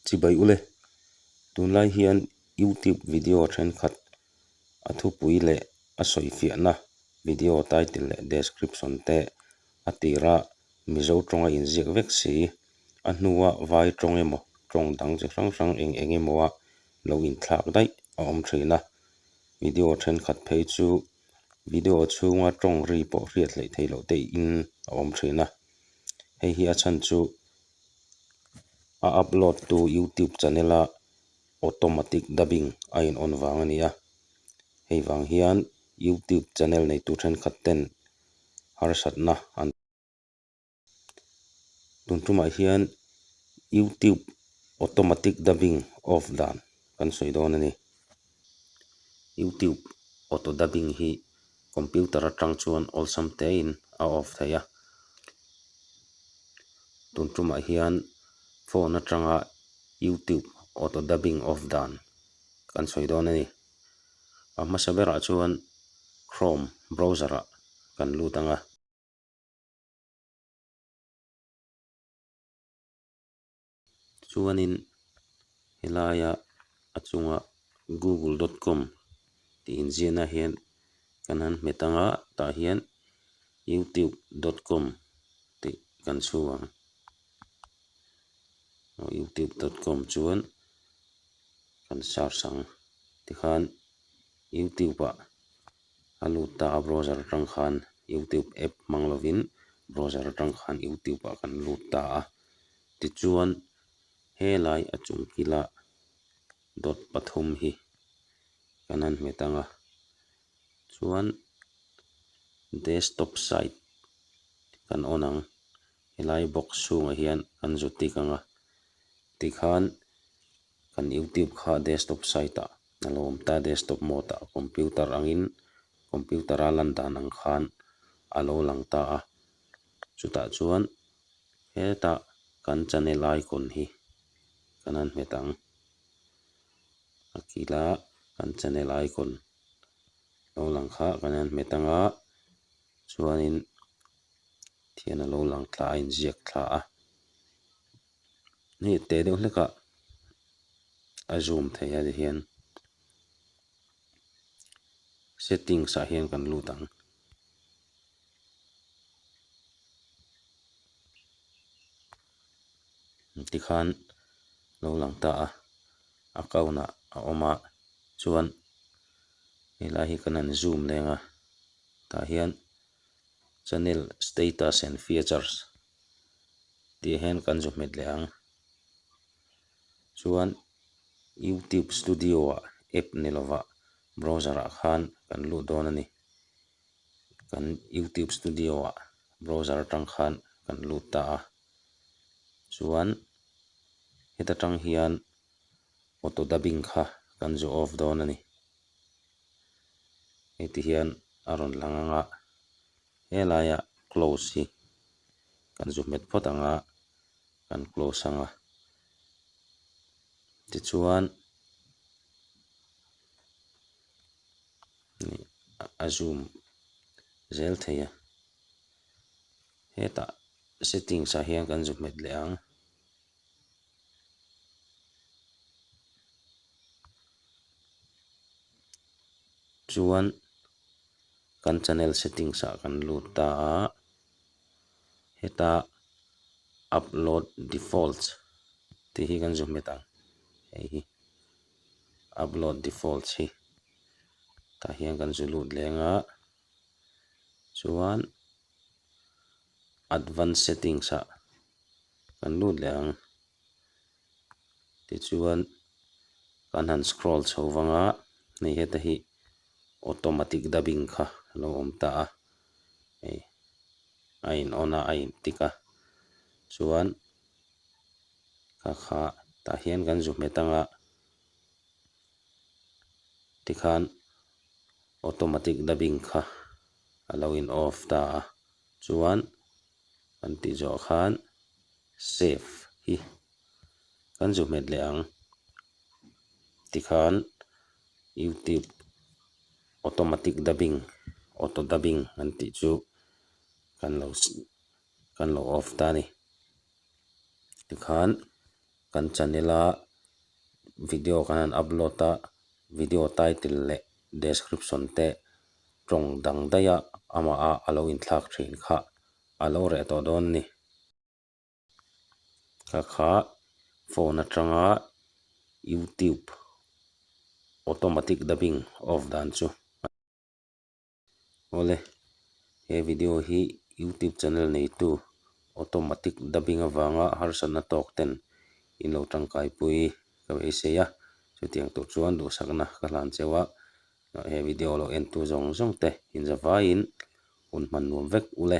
Chibai u le. Tunlai hian YouTube video thenkhat a thupui leh a sawifiahna video title leh description te a tira Mizo tawnga inziak vek si. A hnua vai tawng emaw tawng dang chi hrang hrang eng eng emawa lo inthlak daih a awm thin a. Video thenkhat phei chu video chhunga tawng ri pawh hriat hleih theih loh teh in a awm thin a. Hei hi a chhan chu A upload tu youtube channel a automatic dubbing a in on vang a ni a, hei vang hian youtube channel nei tur thenkhat ten harsat na an tun thum ah hian youtube automatic dubbing off dan kan sawi dawn a ni. YouTube auto dubbing hi computer atang chuan awlsam tein a off theih a tun tumah hian phone atanga YouTube auto dubbing off dan kan sawi dawn a ni a hmasa berah chuan chrome browser ah kan lut ang a. Tichuanin helaia a chunga google dot com tih inziahna hian kan han hmet ang a, tah hian youtube dot com tih kan chhu ang. Aw youtube dot com chuan kan search ang tikhan youtube ah a lut ta a browser atang khan youtube app hmang lovin browser atang khan youtube ah kan lut ta a. Tichuan, helai a chung kila dawt pathum hi kan han hmet ang a, chuan Desktop site kan on ang, helai box chhungah hian kan zu tik ang a, tikhan kan YouTube kha Desktop site ah a lo awm ta, Desktop mode ah computer angin computer a lan dan ang khan a lo lang ta a, Chutah chuan heta kan channel icon hi kan han hmet ang. A kila kan channel icon lo lang kha kan han hmet ang a, chuanin thian alo lang thla a inziak thla a. Hei teh deuh hlekah a zoom thei a tihian settings ah hian kan lut ang. tikhan lo lang ta a account ah a awm a chuan helai hi kan han zoom leng a tah hian channel status and features tih hian kan zu hmet leh ang chuan youtube studio ah app ni lovah browser ah khan kan lut dawn a ni. kan youtube studio ah browser atang khan kan lut ta a chuan heta tang hian auto dubbing kha kan zu off dawn a ni heti hian a rawn lang ang a helai ah close hi kan zu hmet phawt ang a kan close ang a tichuan. nih a zoom zel thei a, hetah settings ah hian kan zuk nghet leh ang. Chuan kan channel settings ah kan lut ta a, heta upload defaults tih hi kan zuk nghet ang hei hi. upload defaults hi tah hian kan zu lut leng a chuan advance settings ah kan lut leh ang tichuan kan han scroll chho vang a hei heta hi automatic dubbing kha a lo awm ta a hei a in on a a in tik a chuan-- ka kha tah hian kan zu hmet ang a tikhan automatic dubbing kha a lo in off ta a chuan kan tih zawh khan save hi kan zu hmet leh ang tikhan youtube automatic dubbing auto dubbing kan tih chu kan lo-- kan lo off ta a ni tikhan kan channel a video kan han upload a video title leh description te tawng dang daih a amah a a lo in thlak thin kha a lo reh tawh dawn a ni ka kha phone atanga youtube automatic dubbing off dan chu. Awle, he video hi YouTube channel neitu automatic dubbing avanga harsatna tawk ten in lo tangkaipui ka va isei a, chutiang tawh chuan duhsakna ka hlan cheu a, he video lo entu zawng zawng te inzavaiin hun hman nuam vek ule.